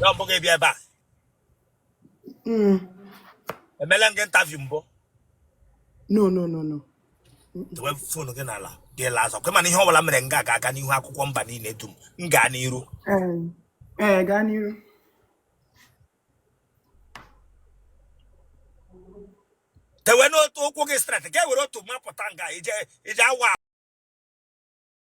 Ya mbụ gị bịa ebe a. Mm. Emela m gị interview mbụ. No, no, no, no. Dowe fon gị n'ala gị laa azụ. Kwe ma na ihe ọbụla mere nga a ga-aga n'ihu akwụkwọ mba niile dum. M gaa n'iru. Um, eh, gaa n'iru. Tewe n'otu ụkwụ gị straight. Ga-ewere otu mapụta nga ije ije awa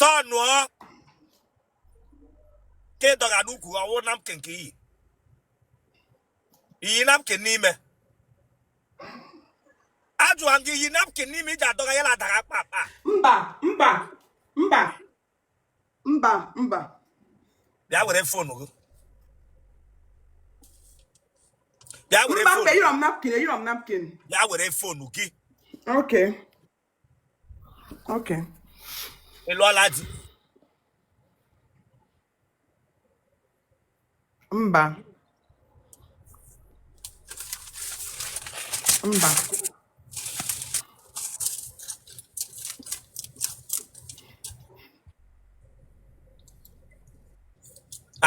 tọnụọ ka ị dọga n'ukwu ọ wụ napkin ka i yi i yi napkin n'ime ajụwa m gị i yi napkin n'ime i ji adọga ya na-adara kpa kpa mba mba mba mba mba bịa were fonu gị bịa were fonu bịa were fonu gị okay Okay. ị lụọla di Mba. Mba.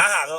aha gị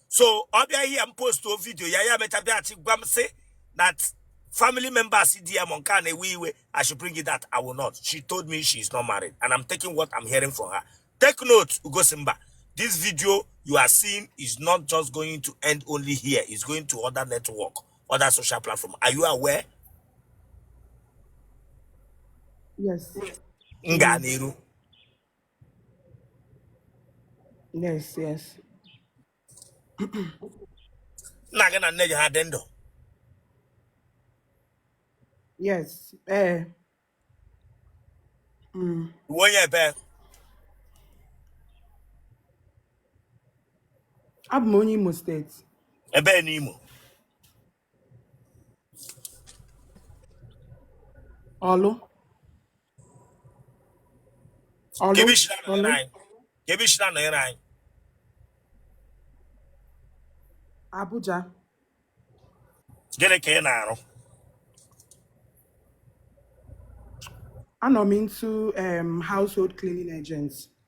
so ọ bịa ihe m postuo vidio ya ya mecha bịaghachi gwa m sị that family members di ya ma nke a na-ewe iwe I should bring it that I will not she told me she is not married and I'm taking what I'm hearing from her take note Ugosimba this video you are seeing is not just going to end only here it's going to other network other social platform are you aware yes m gaa n'iru yes yes nna gị na nne gị ha dị ndụ yes ee mm. ị wụ onye ebee abụ m onye imo state ebee n'imo Ọlụ. Ọlụ. Kee ebe i si na-anọnyere Ọlụ. anyị. Kee ebe i si na-anọnyere anyị. Abuja. Gịnị ka ị na-arụ? Anọ m into um, household cleaning agents.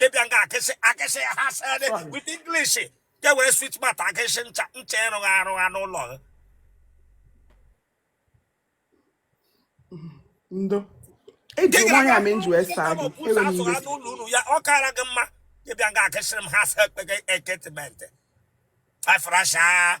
gị bịa nga a gị sị gị sị ha sịrị with English ga were sweet mouth a gị sị ncha ncha ị rụgha arụgha n'ụlọ gị ndo eji nwa ya mee nji wee saa gị ewe m iwe n'ụlọ unu ya ọ kaara gị mma gị bịa nga a gị sịrị m ha sị ekpeghe eketimentị air freshener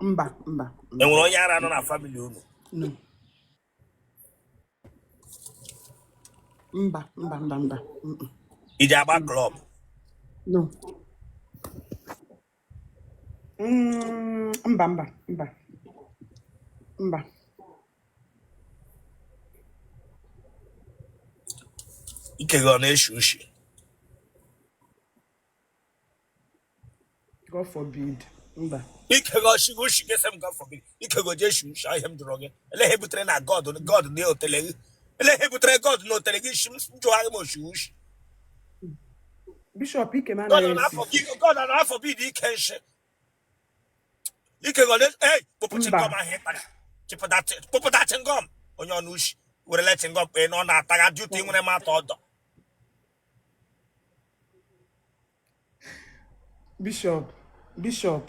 mba mba e nwere onye ara nọ na famili unu no. mba mba mba mba mm, mm, ị ji agba klọb no Mm, mba mba mba mba ike gị ọ na-eshi ushi God forbid. Mba. Ike go shi go shi gese m God forbid. Ike go je shi shi ahịa m jụrụ gị. Ele ihe butere na God God na otele gị. Ele ihe butere God na otele gị shi m jụọ ahịa m oshi ushi. Bishop Ike na God na afọ gị God na afọ bi dị ike nshi. Ike go le eh kpọpụ chingom ahịa ịkpara. Kpọpụta chingom onye ọnụ ushi. Were le chingom kpee n'ọnụ ataga duty nwere m atọ ọdọ. Bishop, Bishop,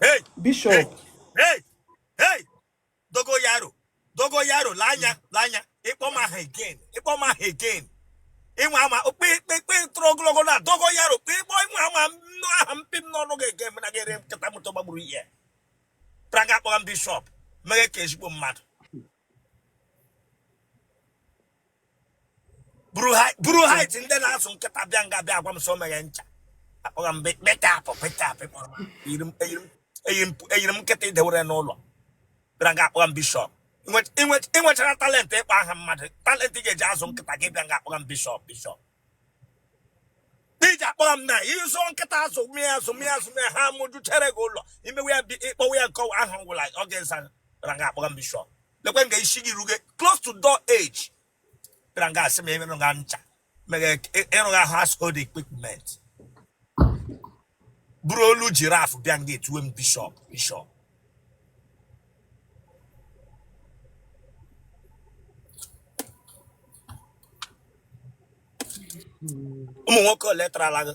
hey, Bishop. Hey, hey, hey, Dogoyaro, Dogoyaro, Lee anya, lee anya, ị kpọọ m aha again, ị kpọọ m aha again. Ị nwa anwa okpe ikpe ikpe toro ogologo na Dogoyaro, kpe ịkpọ ị nwa anwa nnọọ aha m pụ n'ọnụ gị again, mana gị ere nkịta moto gbagburu ihe. Bịara nga akpọga m Bishop, meghe ka ezigbo mmadụ. buru height ndị na-azụ nkịta bịa nga bịa agwa m sọ meghe ncha akpọghị m bekapụ bekapụ kpọrọ eyiri m nkịta e dewere n'ụlọ bịara nga akpọghị m bishọp ị nwechara talentị ịkpọ aha mmadụ talentị ị ga-eji azụ nkịta gị bịa nga akpọghị m bishọp bishọp iji akpọghị m na ịzụ nkịta azụ mịa azụ mịa azụ mịa ha mụjuchere gị ụlọ imewe ya ịkpọwa ya nke ọwa ahụ ngwụla ọ ga-aza bịara nga akpọghị m bishọp lekwe nga isi gị ruge close to door edge bịara nga asị m ịrụ nga ncha mere ịrụ nga household equipment buru olu jiraf bịa nga etuwe m bishọp bishọp ụmụ nwoke ole tarala gị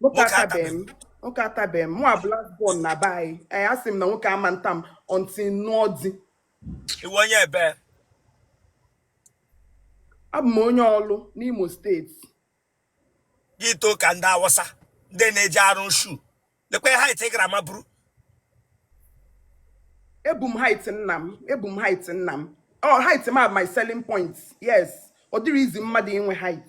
nwoke nwoke atabeghị m atabeghị nwoke atabeghị m mụ nwa black born na be anyị ee asị m na nwoke ama nta m until m nụọ di ị wụ onye ebe abụ m onye Ọlụ n'Imo steeti gị too ka ndị Awụsa ndị na-eji arụ shu lekwe height ị gara maburu ebu m height nna m ebu m height nna m ọ height m a my selling point yes ọ dịrị easy mmadụ inwe height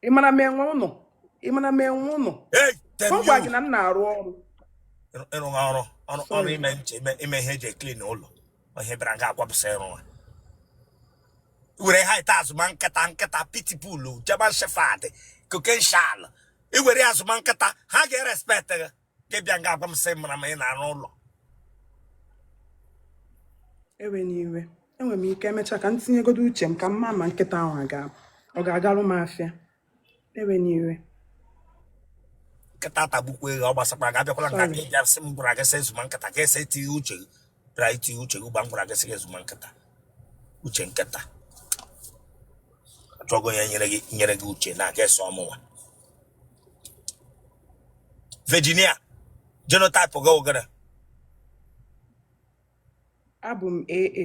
ị mara m enwe ụnụ ị mara m enwe ụnụ Hey, ọ tell gwa gị you. na m na-arụ ọrụ Ịrụ- ịrụ ha ọrụ ọrụ ọrụ sorry ime nche ime ime ihe e ji eklin ụlọ ihe bịara nga akwapụsị ịrụ ha were height azụma nkịta nkịta pitbull German shepherd Caucasian ị were azụma nkịta ha ga-erespekt gị gị bịa nga agwa m sị mara ma ị na-arụ ụlọ ewena iwe enwere m ike emechaa ka m tinyegodo uche m ka m maa ma nkịta ahụ aga ọ ga-agarụ m afịa ewena iwe nkịta atagbukwa gị ọ gbasakwa ga abịakwala nga Sorry. gị bịa sị m gwara gị sị zụma nkịta ka ese tinye uche gị bịara iti uche gị mgbe m gwara gị sị gị zụma nkịta uche nkịta achọgo onye nyere gị nyere gị uche na a ga-eso ọ mụnwa Virginia genotype gị wụ gịrị abụ m AA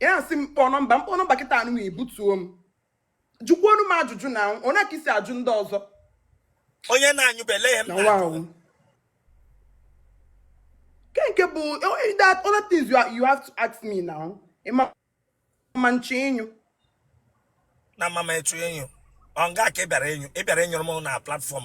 ya asị m kpọọ nọmba m kpọọ nọmba kịta anụ m ibutuo m jụkwuonụ m ajụjụ na onye ka i si ajụ ndị ọzọ onye na-anyụbele ya m nke nke bụ that other things you, are, you have to ask me now ị ma ma nche enyu na mama etu enyu ọ nga ka ị bịara enyu ị bịara enyụrụ m na platform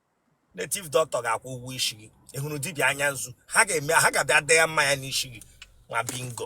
native doctor ga-akwụ ụgwọ isi gị ị hụrụ dibịa anya nzu ha ga-eme ha ga-abịa dee ya mmanya n'isi gị nwa bingo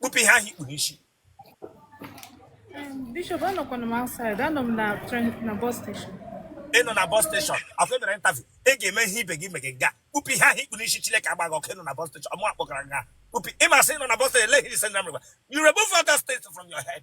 kpụpụ ihe ahụ i kpu n'isi Bishop, anọkwana m outside, anọ m na train na bus station. ị nọ na bus station afọ emere interview ị ga-eme ihe ibe gị megị nga kpụpụ ihe ahụ i kpu n'isi Chineke agba gị ọkụ ị nọ na bus station ọmụ akpọkara nga kpụpụ ị ma sị ị nọ na bus station eleghị ise na mrịgba you remove all that stuff from your head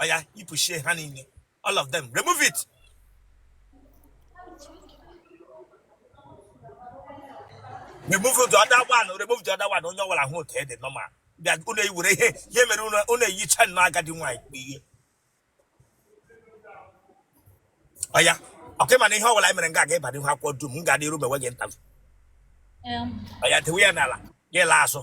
oya yipụchaa ha niile all of them remove it remove the other one remove the other one onye ọwụla hụ otu ị dị normal bịa unu ewere ihe ihe mere unu eyicha nnọọ agadi nwaanyị kpụ ihe oya okay ị ma na ihe ọbụla anyị mere nga aga ịba n'ihu akwụkwọ dum m ga-adị iru mewe gị interview oya dewe ya n'ala gị laa azụ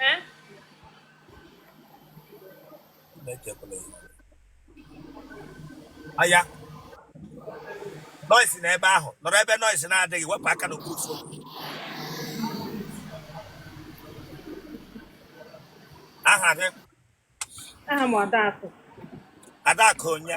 Eh? anya noise na ebe ahụ nọrọ ebe noise na-adịghị wepụ aka n'okpuru phone aha gị aha m Adaakụ Adaakụ onye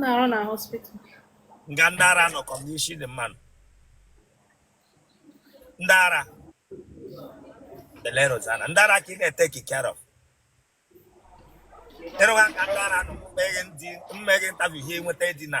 na-arụ na hospital nga ndị ara nọkọ m n'isi dị mma nụ ndị ara belero zana ndị ara ka ị na-ete kikero ị rụwa nga ndị ara nọ mmeghe ndị m mee gị interview ihe nweta dị na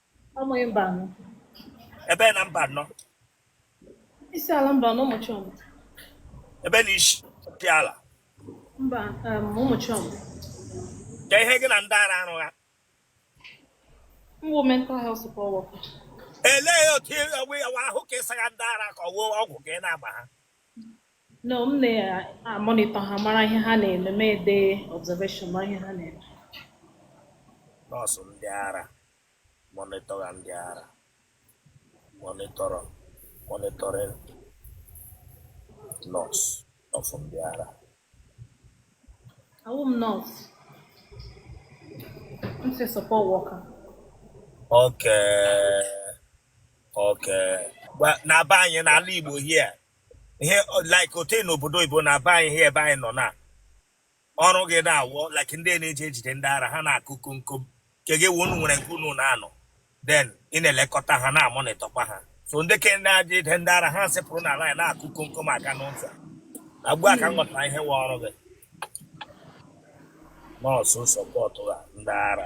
Amaghị Mbano. Ebee na Mbano. Isiala Mbano ụmụchi ọmụ. Ebee na Isiala Mbano, ụmụchi ọmụ. Ka ihe gị na ndị ara arụ ha. M bụ mental health support worker. Elee otu ọ wụ ahụ ka ị saga ndị ara ka ọ wụ ọgwụ ka ị na-agba ha. no m na-amonitọ ha mara ihe ha na-eme m edee observation mara ihe ha na-eme nọọsụ ndị ara monitor ndị ara monitoring nọọsụ nọọsụ ndị ara awụ m nursing support worker okay Okay. Well, na be anyị n'ala Igbo here ihe like ote n'obodo Igbo na be anyị here ebe anyị nọ na ọrụ gị na-awụ like ndị na-eji ejide ndị ara ha na-akụ komkom nke gị wụ unu nwere nke unu na-anọ then ị na-elekọta ha na-amonitọkwa ha so ndị ke ndị ji ejide ndị ara ha sepụrụ n'ala anyị na-akụ komkom aga n'ụzọ na ugbu a ka m ghọtara ihe wụ ọrụ gị nọọsụ sọpọtụ ha ndị ara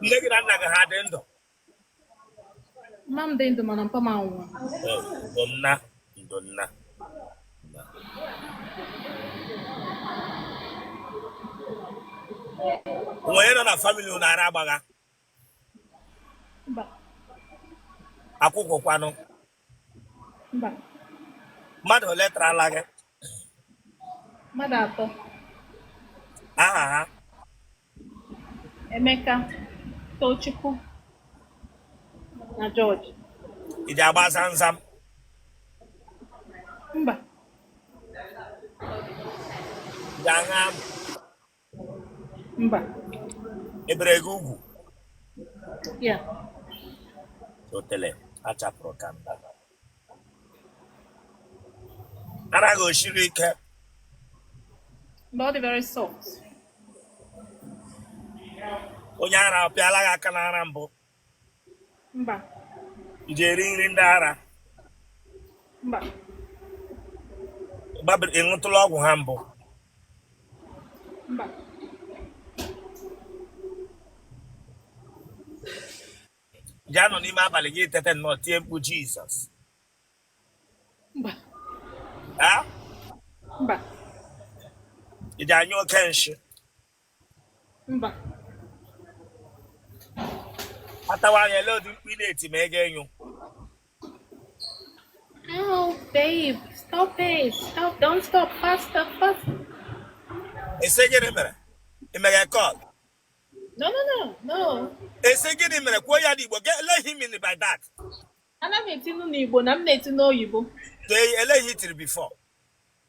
nne gị na nna gị ha dị ndụ mma m dị ndụ mana mpa m anwụọ ndo nna ndo nna onye nọ na famili unu ara gbagha akwụkwụ kwanụ mba mmadụ ole tarala gị mmadụ atọ aha ha emeka tochukwu na jọji ị ji agba zamzam mba ị ji aṅụ amụ Mba. E bere gị ugwu? Yeah. Otele achapụrụ ka mba. Ara gị o siri ike? Mba, ọ dị very soft. Onye ara ọ pịala gị aka n'ara mbụ? mba ị ji eri nri ndị ara mba gbabiri ị ṅụtụla ọgwụ ha mbụ mba ị ji anọ n'ime abalị gị tete nnọọ tie mkpu jizọs mba a mba ị ji anyụ oke nshi mba atawa anya ele ụdị mkpu ị na-eti ma ego enyo Oh, babe, stop it. Stop. Don't stop. Faster, faster. ị sị gịnị mere ị mere kọl No, no, no, no. ị sị gịnị mere kwuo ya n'igbo Ge- ele ihe ị mini by that Ana m etinu n'Igbo na m na-eti n'oyibo. Dee- ele ihe i tiri before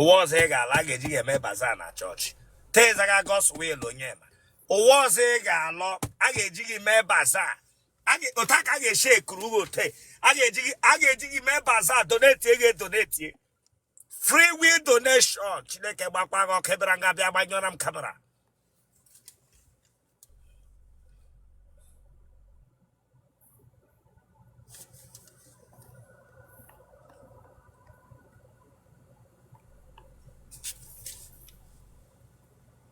ụwa ọzọ ị ga-alọ a ga-eji gị eme baza na chọọchị tezaga Godswill Onyema ụwa ọzọ ị ga-alọ a ga-eji gị mee baza otu a ka a ga-esi ekuru gị otu a ga-eji gị mee baza donetie gị edonetie free will donation chineke gbakwaa gị ọkụ ebere nga bịa gbanyụọra m kamera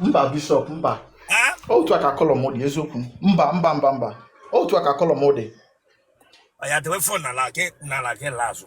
mba bishọp mba otu a ka kọlọ m dị eziokwu mba mba mba mba otu a ka kọlọ m dị oya dewe fon n'ala gị n'ala gị laa azụ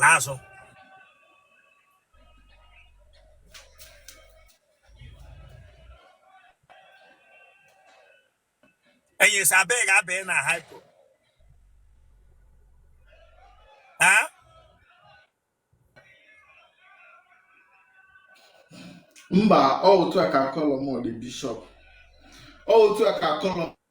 laa azụ enyi sị abịa ga-abịa na hypo Ah? mba ọ otu a ka kọlọ m dị bishọp ọ otu a ka kọlọ m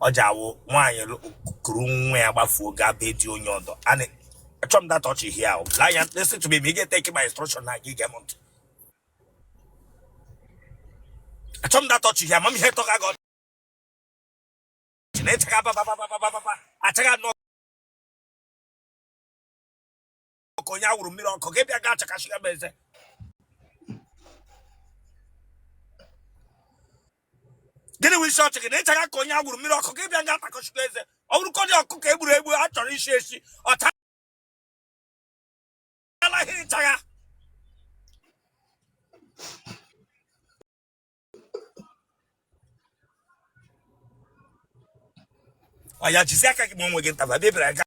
ọ gị a wụ nwaanyị lụ- kuru nwa ya gbafuo gaa be di onye ọdọ ana achọ m that ọchị here ahụ laa ya listen to me ma ị ga-eteki my instruction na gị gee m ntị achọ m that ọchị here ama m ihe tọga gị ọchị na ị chịga babababababa achaga nọ ka onye awụrụ mmiri ọkụ gị bịa gaa chakasị ya bụ eze gịnị bụ isi ọchị gị na ịchaga ka onye awụrụ mmiri ọkụ gị bịa gaa takọchikwa eze ọ bụrụkọ dị ọkụ ka e gburu egbu a chọrọ isi esi ọ taraghị ịchagha ọ ya jizi aka gị ma onwe gị ntaba bịa bịara gaa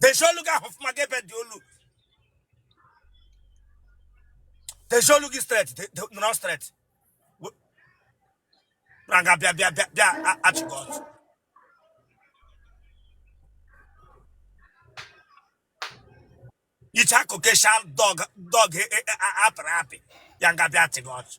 Dezie olu gị ahụ ọfụma gị ebe dị olu. Dezie olu gị straight, te- te- nọrọ straight. We- Na nga bịa bịa bịa bịa a- achị gị ọchị. Iche a Caucasian dog dog e- e- e- a- apịrị apị ya nga bịa achị gị ọchị.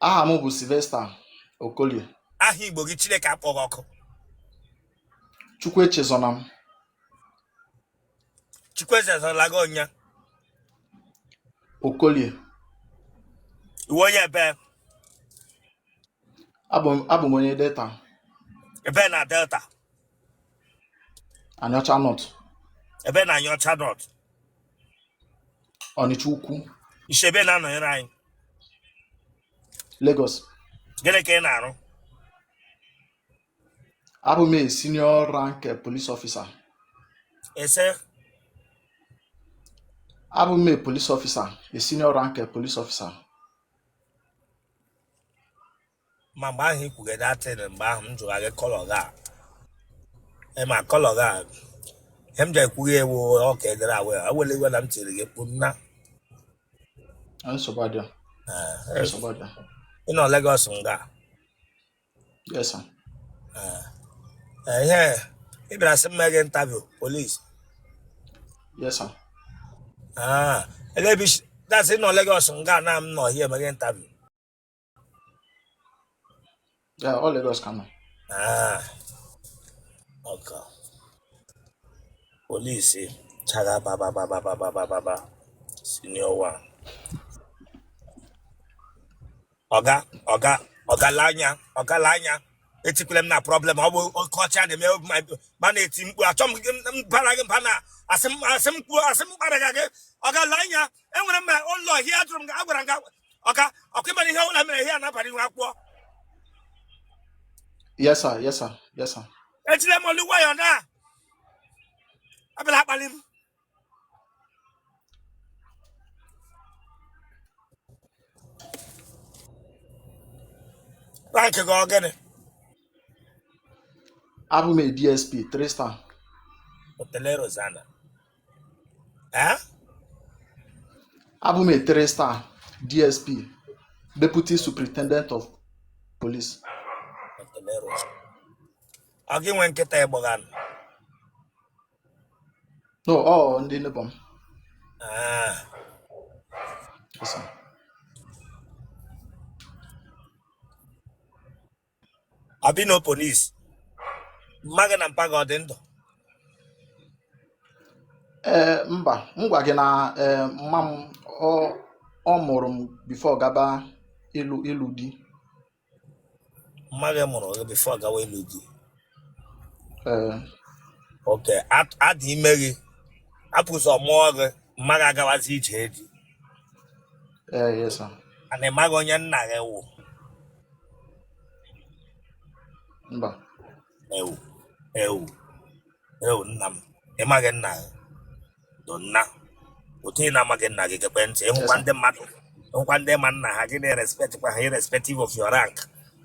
aha m bụ Sylvester Okolie aha Igbo gị Chineke akpọ gị ọkụ Chukwu echezọna m Chukwu echezọla gị ọnya Okolie ị wụ onye ebe abụ m onye Delta ebe na Delta Aniocha North, ebe na Aniocha North Ọnịcha Ukwu, i shi ebe na-anọnyere anyị Lagos. gịnị ka ị na-arụ Abụ m a senior rank eh, police officer. Ị sị? Abụ m a police officer, a senior rank eh, police officer. ma mgbe ahụ ị kwuge that thing mgbe ahụ m jụrụ gị colour gị a ị ma colour gị a ihe m ji ekwughị ewu ọka edere awe ewele iwe na m tiri gị mkpu nna nsogbu adịghị Eh, nsogbu adịghị ị nọ Lagos nga yes sir Eh, eh, ihe ị bịara sị m mee gị interview police yes sir Ah, ele ebe isi- that's ị nọ Lagos nga na m nọ here eme gị interview Ya, ọ Lagos ka m nọ. Ah, okay. Police chara baba baba baba baba baba senior one. Ọga ọga ọgalanya ọgalanya etikwele m na problem ọ bụ oke ọcha na-eme obi ma ma na-eti mkpu achọ m gị m bara gị mba na asị m asị m kwuo asị m kpara gị gị ọgalanya enwere m ma ụlọ here ajụrụ m gị agwara m gị ọka ọkụ ịmara ihe ọbụla mere ihe a na-abara ihu akwụkwọ yes sir yes sir yes sir ejile m olu nwayọ na-abịala akpali m rank gị ọ gịnị abụ m a dsp 3 star hotel Rosana Eh? abụ m a three star dsp deputy superintendent of police Dr. Meros. Ọ gị nwe nkịta ịgbọga nụ? no ọ ndị neighbor m Ah, Yes, sir. abino polis mma gị na mpa gị ọ dị ndụ ee mba m gwa gị na ee mma m ọ ọ mụrụ m before gaba ịlụ ịlụ di mma gị mụrụ gị before gawa ịlụ di okay a dị ime gị apụ ụzọ mụọ gị mma gị agawazi ije di and ị maghị onye nna gị wụ mba ewu ewu ewu nna m ị maghị nna gị do nna otu ị na-amaghị nna gị gekwe ntị ị hụkwa ndị mmadụ ị hụkwa ndị ma nna ha gị na-erespectkwa ha irrespective of your rank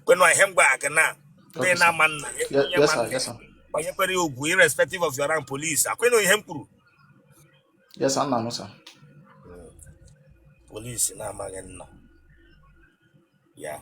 kwenu ihe m gwa gị na ndị na-ama nna gị Ye- onye Yes, ma sir. nna Yes, sir. kwanyere ya ugwu irrespective of your rank police akwenu ihe m kwuru Yes, sir. Nna m, sir. police na-amaghị nna ya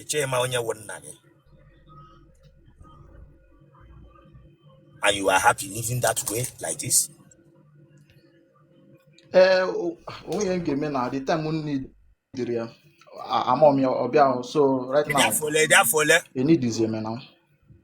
ị chọ ịma onye wụ nna gị and you are happy living that way like this ee o- o nweghị m ga-eme na the time m needịrị ya a- amụọ m ya ọbịa ahụ so right now ị dị afọ ole ị dị afọ ole enidizi eme na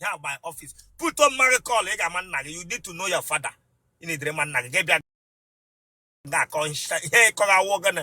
ya by office put on marry call ị ga-ama nna gị you need to know your father ị needịrị ịma nna gị gị bịa ga-akọ ihe ị kọrọ ọ wụ gịnị